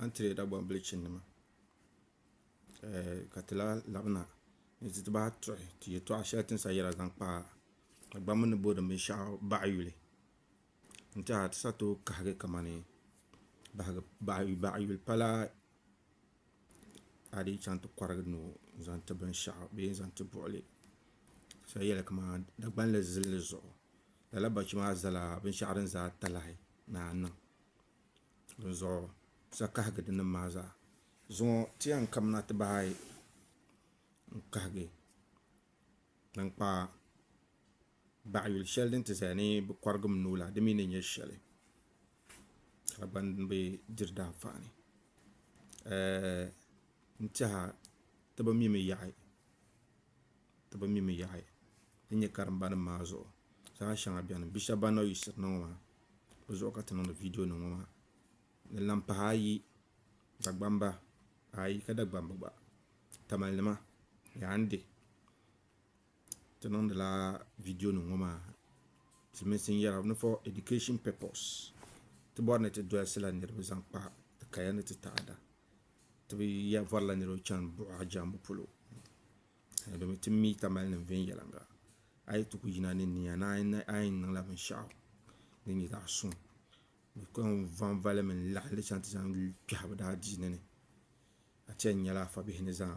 antirɛda gbambili chinima ka ti lahi labina ni ti bahi tuhi ti yɛtɔɣa shɛli ti ni sa yɛra zaŋ kpa Agbamni ni booni binshɛɣu baɣa yuli n tɛha ti sa tooi kahigi kamani baɣayuli pala a dii chaŋ ti kɔrigi ni o zaŋ ti binshɛɣu bee n zaŋ ti buɣili so yɛli kaman Dagbanli zilli zuɣu lala bɔchi maa zala binshɛɣu din za talahi ni a niŋ dinzuɣu sa kahigi dinni maa zaa zuŋɔ ti yɛn kamina ti bahi ayi n kahigi tankpaɣu baɣa yuli shɛli din ti zaya ni bɛ kɔrigim nuu la di mi ni nyɛ shɛli ka di gba ni bi diri danfaani n tɛha ti bi mimi yaɣi ti bi mimi yaɣi din nyɛ karimbanima maa zuɣu zaɣ shɛŋa beni bia shɛba ban na yiɣisiri na ŋɔ maa bɛ zuɣu ka ti niŋdi viidionima ŋɔ maa ni laŋ pahi ayi Dagbamba ayi ka Dagbamba gba tamalima yaandi Ti niŋdila vidiyo nim ŋɔ maa ti mini sin yɛra ni for education purpose ti bɔri ni ti dɔlisila niriba zaŋ kpa ti kaya ni ti taada ti bi yɛn varila niriba chani buɣa jɛmbu polo domin ti mi tamali nim viɛnyɛliŋga a yi ti ku yina ni nia ni a yɛn niŋla binshaɣu din nyɛ zaɣa suŋ bi kɔŋ vanvali mi n laɣim li chani ti zaŋ kpɛhi bi daa diini ni a ti yɛn nyɛla afa bihi ni zaa.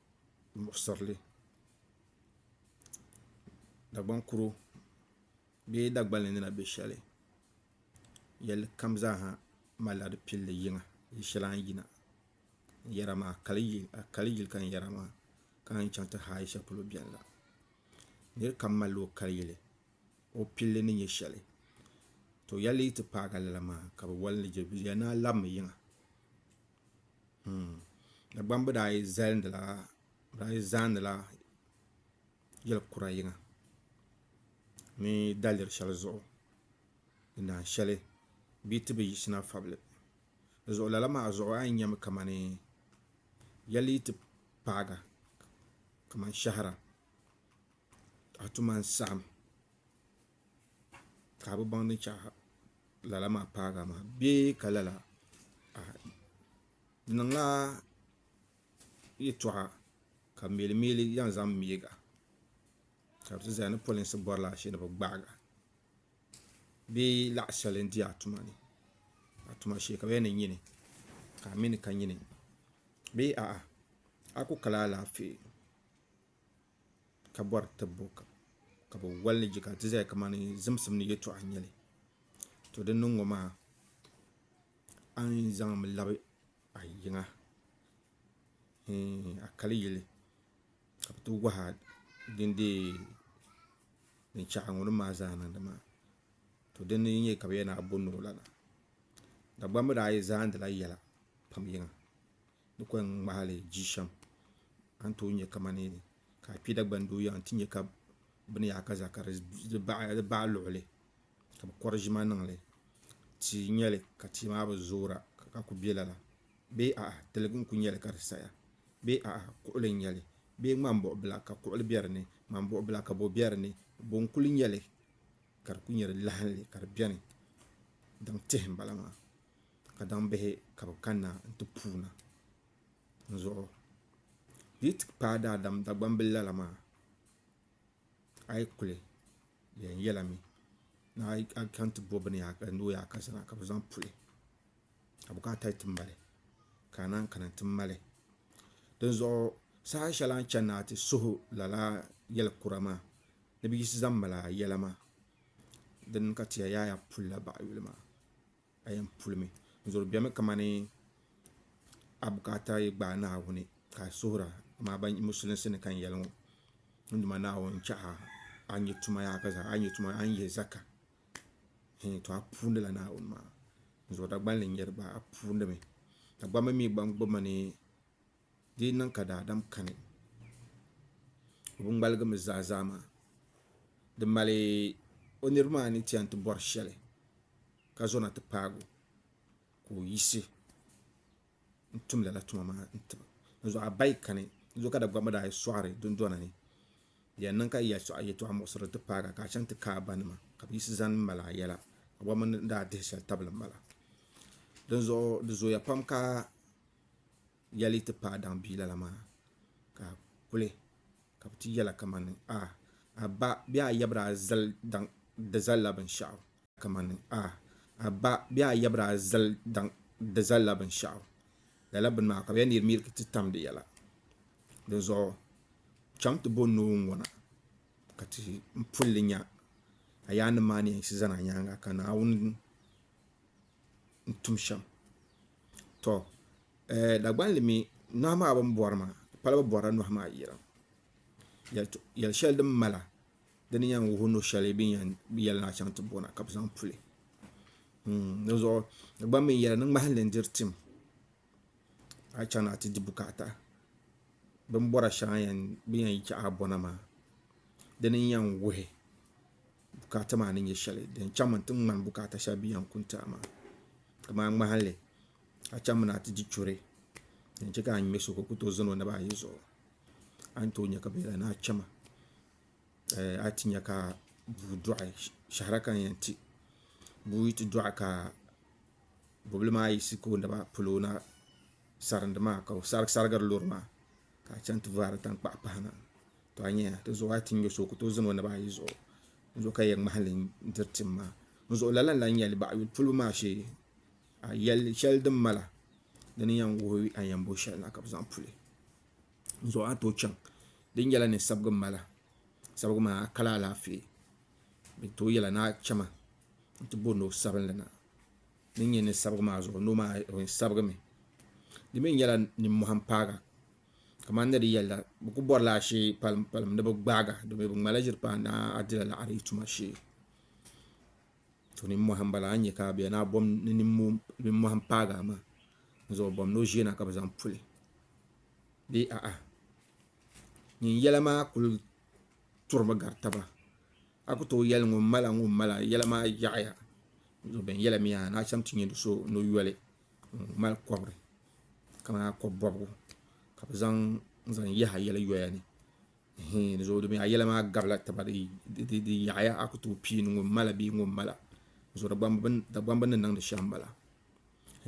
muɣisirili Dagbaŋ kuro bee Dagbani ni na bɛ shɛli yɛlli kam zaa ha malila di pilli yiŋa yili shɛli a ni yina n-yɛra maa a kali yili ka n-yɛra maa ka a yi chaŋ ti haai shɛli polo beni la nir kam malila o kali yili o pilli ni nyɛ shɛli to yɛlli yi ti paagi a lala maa ka bɛ wali ni je bɛ yɛli ni a labimi yiŋa. Dagbamb daa yi zalindila, bɛ daa yi zaandila yɛl kura yiŋa ni daliri shɛli zuɣu din daan shɛli bee ti bi yiɣisina fabili. Di zuɣu lala maa zuɣu a yi nya mi kamani yɛli yi ti paaga kamani shɛhira a tuma n-saɣim. ka a bi baŋ ni chɛ lala maa paagi a maŋa bee ka lala di niŋla yɛltɔɣa ka meeli meeli yɛn zaŋ meegi a ka bi ti zaya ni polinsi bɔri la ashili ni bi gbaagi a bee laɣi shɛli n di a tuma ni a tuma shee ka bi yɛli ni nyini ka a mi ni ka nyini bee a'a a ku kali alaafee. ka bɔri tibbu ka bɛ wali ni ka ti zaya kamani zimsim ni yɛltɔɣa n-nyɛ li to din niŋ ŋɔ maa a ni yi zaŋmi labi a yiŋa hii a kali yili ka bɛ ti wahi a din deei din chahi a ŋuni maa zaa niŋdi maa to din ni yi nya ka bɛ yɛli ni a bo ni o lana Dagbamba daa yi zaandila yɛla pam yiŋa. ni kɔŋ ŋmahili ji shɛm a ni tooi nyɛ kamani ka a kpi Dagban doo yaha n-ti nyɛ ka bini yaha ka za ka di baɣ luɣili ka bɛ kɔri ʒima niŋ li tia n-nyɛ li ka tia maa bi zoora ka kuli be lala bee a'a tiligi n-kuli nyɛ li ka di saya bee a'a kuɣili n-nyɛ li bee ŋmambuɣibila ka kuɣili be di ni ŋmambuɣibila ka bo be di ni bo n-kuli nyɛ li ka di kuli nyɛ di lahili ka di beni daŋ tihi m-bala maa ka daŋ bihi ka bɛ kanna n-ti puuna n zuɣu di yi ti paai daadam Dagbambil lala maa a yi kuli yɛn yɛla mi ni a chaŋ ti bo bini yaha ni o yaai ka zaa ka bɛ zaŋ puli ka bukaata yi ti mali ka a naan kana nti mali dinzuɣu saha shɛli a ni chani ni a ti suhu lala yɛl kura maa ni bɛ yiɣisi zaŋ mali a yɛla maa din ka ti ya yaai a puli la baɣa yuli maa a yɛn pulimi n zori bɛmi kamani a bukaata yi gbaai naawuni ka a suhura amaa ban musulinsi ni ka n yɛli ŋɔ n duma naawuni n chaha a ni nyɛ tuma yaa ka zaa a ni nyɛ tuma a ni yɛ zaka hɛn to a puundila naawuni maa n zori dagbanli n yɛri ba a puundimi dagbanbi mii gba n gbubi ma ni Di yi niŋ ka daadam kani o bi ŋmaligi mi zaa zaa maa, di mali o niriba maa ni ti yɛn ti bɔri shɛli ka zɔna ti paagi o ka o yiɣisi n tum lala tuma maa n ti ba. Dinzuɣu a ba yi kani dinzuɣu ka Dagbamba daa yi sɔɣiri dundɔna ni di yɛn niŋ ka yi yɛli yɛltɔɣa muɣisiri ti paagi a ka a chaŋ ti kaai a ba nima ka bi yiɣisi zani mali a yɛla ka bɔbi mini ni daa dihi shɛli tabili m bala. Dinzuɣu di zooya pam ka yɛli ti paai daŋ bia lala maa ka a kuli ka bi ti yɛla kamani a a ba bee a yabira zali daŋ di zalila binshaɣu kamani a a ba bee a yabira zali daŋ di zalila binshaɣu lala bini maa ka bi yɛn neeri miiriki ti tam di yɛla dinzuɣu chaŋ ti bo noo n ŋona ka ti pulli nya a yaa nim maa ni yɛn yiɣisi zani a nyaanga ka Naawuni n tum shɛm to Dagban li mi nohi maa bini bɔri maa di pala bi bɔrila nohi maa yirim yɛli shɛli din mala di ni yɛn wuhi no shɛli bini yɛli ni a chaŋ ti bo na ka bi zaŋ puli di zuɣu Dagban mi yɛli ni ŋmahin li n diri tim a chaŋ na a ti di bukaata bin bɔra shɛŋa bin yɛn yi a bɔna maa di ni yɛn wuhi bukaata maa ni nyɛ shɛli din chaŋmi n ti ŋmani bukaata shɛli din yɛn kuni ti a maa kamani ŋmahanli a chaŋ mi ni a ti di churɛ din chɛ ka a ŋmɛ so ka o ku tooi zaŋ o naba ayi zuɣu a ni tooi nyɛ ka binyɛra ni a chɛma a ni ti nyɛ ka bua dɔɣi shahara ka n yɛn ti bua yi ti dɔɣi ka bobili maa yiɣisi kooniba polo na sarindi maa ka o sarigiri loori maa ka a chɛŋ ti vaari tankpaɣu pahi na to a nyɛya ti zuɣu a yi ti nyɛ so o ku tooi ʒini o naba ayi zuɣu n zuɣu ka di yɛn ŋmahali n diri tim maa n zuɣu lala n lahi nyɛli baɣa yuli polo maa shee a yɛli shɛli din mala di ni yɛn wuhi a ni yɛn bo shɛli na ka bi zaŋ puli n zuɣu a ni tooi chɛŋ di ni nyɛla ni sabigi mala sabigi maa a kali alaafee bɛ tooi yɛla ni a chɛma n-ti bo no sabinli na ni n-nyɛ ni sabigi maa zuɣu no maa sabigimi di mi nyɛla nimmɔhi m-paaga kamani ni di yɛli la bɛ kuli bɔrila ashee palimpalimm ni bɛ gbaaga domi bɛ ŋmala ʒiri paai ni a dila liɣiri yi tuma shee to nimmɔhi m-bala a ni nya ka a bɛ ni a bom ni nimmɔhi m-paagi a maa n zaŋ o bom ni o ʒiya na ka bɛ zaŋ puli bee a'a nyin yɛla maa kuli turimi gari taba a ku tooi yɛli ŋun mala ŋun mala yɛla maa yaɣaya bin yɛla miya ni a chɛŋ ti nyɛ do so ni o yoli ŋun mali kobiri kamani a kobi bobgu ka bi zaŋ n zaŋ yaha yɛli yoya ni di zuɣu dimi a yɛla maa gabila taba di yaɣaya a ku tooi pii ni ŋun mala bee ŋun mala zuɣu dagbani bi ni niŋdi shɛm n bala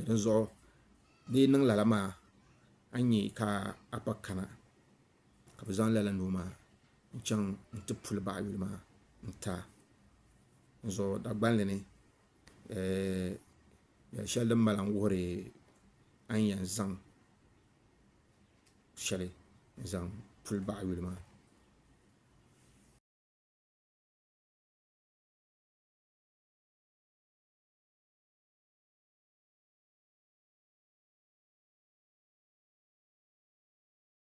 dinzuɣu di yi niŋ lala maa a ni nyɛ ka a kpa kana ka bɛ zaŋ lala noo maa n-chaŋ nti puli baɣa yuli maa n-ti a n zuɣu Dagbani ni yɛl' shɛli din mali a n-wuhiri a ni yɛn zaŋ shɛli n-zaŋ puli baɣa yuli maa.